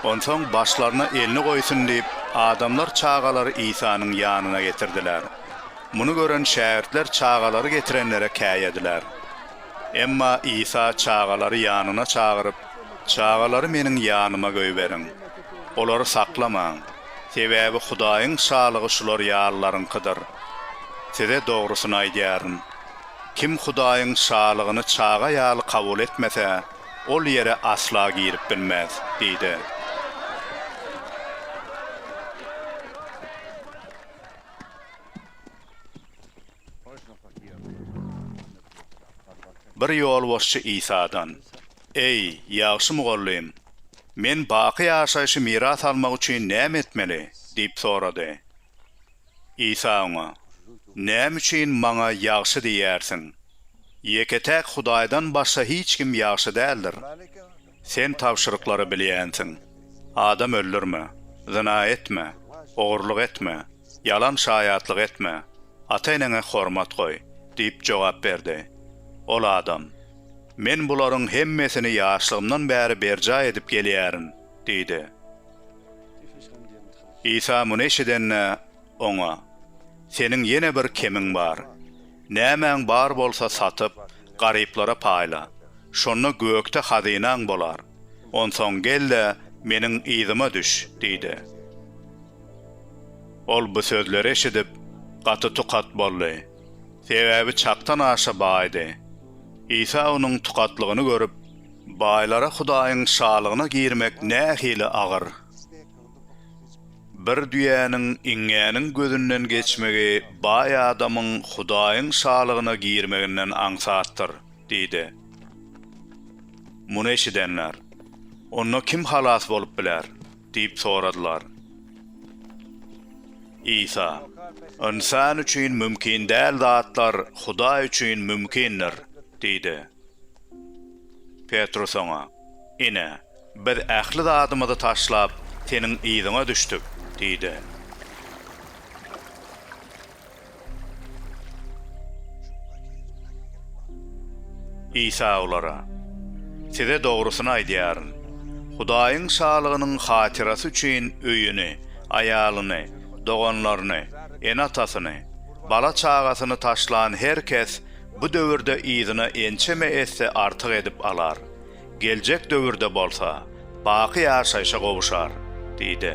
Onsoň başlaryna elini goýsun diýip, adamlar çagalary Isanyň ýanyna getirdiler. Muny gören şägirtler çagalary getirenlere käýediler. Emma Isa çagalary ýanyna çagyryp, Çagalary Meniň ýanyma goýberiň. Olary saklamaň, sebäbi Hudaýyň şalygy şular ýalylaryňkydyr. Size dogrusyny aýdýaryn, kim Hudaýyň Şalygyny çaga ýaly kabul etmese, ol ýere asla girip bilmez diýdi. Bir ýolbaşçy Isadan, Eý, ýagşy mugallym, men baky ýaşaýşy miras almak üçin näme etmeli? diýip sorady. Isa oňa, Näme üçin Maňa ýagşy diýýärsiň? Ýeke-täk Hudaýdan başga hiç kim ýagşy däldir. Sen tabşyryklary bilýänsiň, Adam öldürme, zyna etme, ogurlyk etme, ýalan şaýatlyk etme, ata-eneňe hormat goý diýip jogap berdi. Ol adam, Men bularyň hemmesini ýaşlygymdan bäri berjaý edip gelýärin diýdi. Isa muny eşidende, Oňa, Seniň ýene bir kemiň bar. Nämäň bar bolsa satyp, garyplara paýla. Şonda gökde hazynaň bolar. Onsoň gel-de, meniň yzyma düş diýdi. Ol bu sözleri eşidip, gaty tukat boldy. Sebäbi çakdan aşa baýdy. Isa onuň tukatlygyny görüp, Baýlara Hudaýyň Şalygyna girmek nähili agyr! Bir düýäniň iňňäniň gözünden geçmegi baý adamyň Hudaýyň Şalygyna girmeginden aňsatdyr diýdi. Muny eşidenler, Onda kim halas bolup biler? diýip soradylar. Isa, Ynsan üçin mümkin däl zatlar Hudaý üçin mümkindir diýdi. Petrus oňa, Ine, Biz ähli zadymyzy taşlap, seniň yzyňa düşdük, diýdi. Isa olara, Size dogrusyny aýdýaryn, Hudaýyň Şalygynyň hatyrasy üçin öýüni, aýalyny, doganlaryny, ene-atasyny, bala-çagasyny taşlan her kes bu döwürde yzyna ençeme esse artyk edip alar. Geljek döwürde bolsa, baky ýaşaýşa gowuşar diýdi.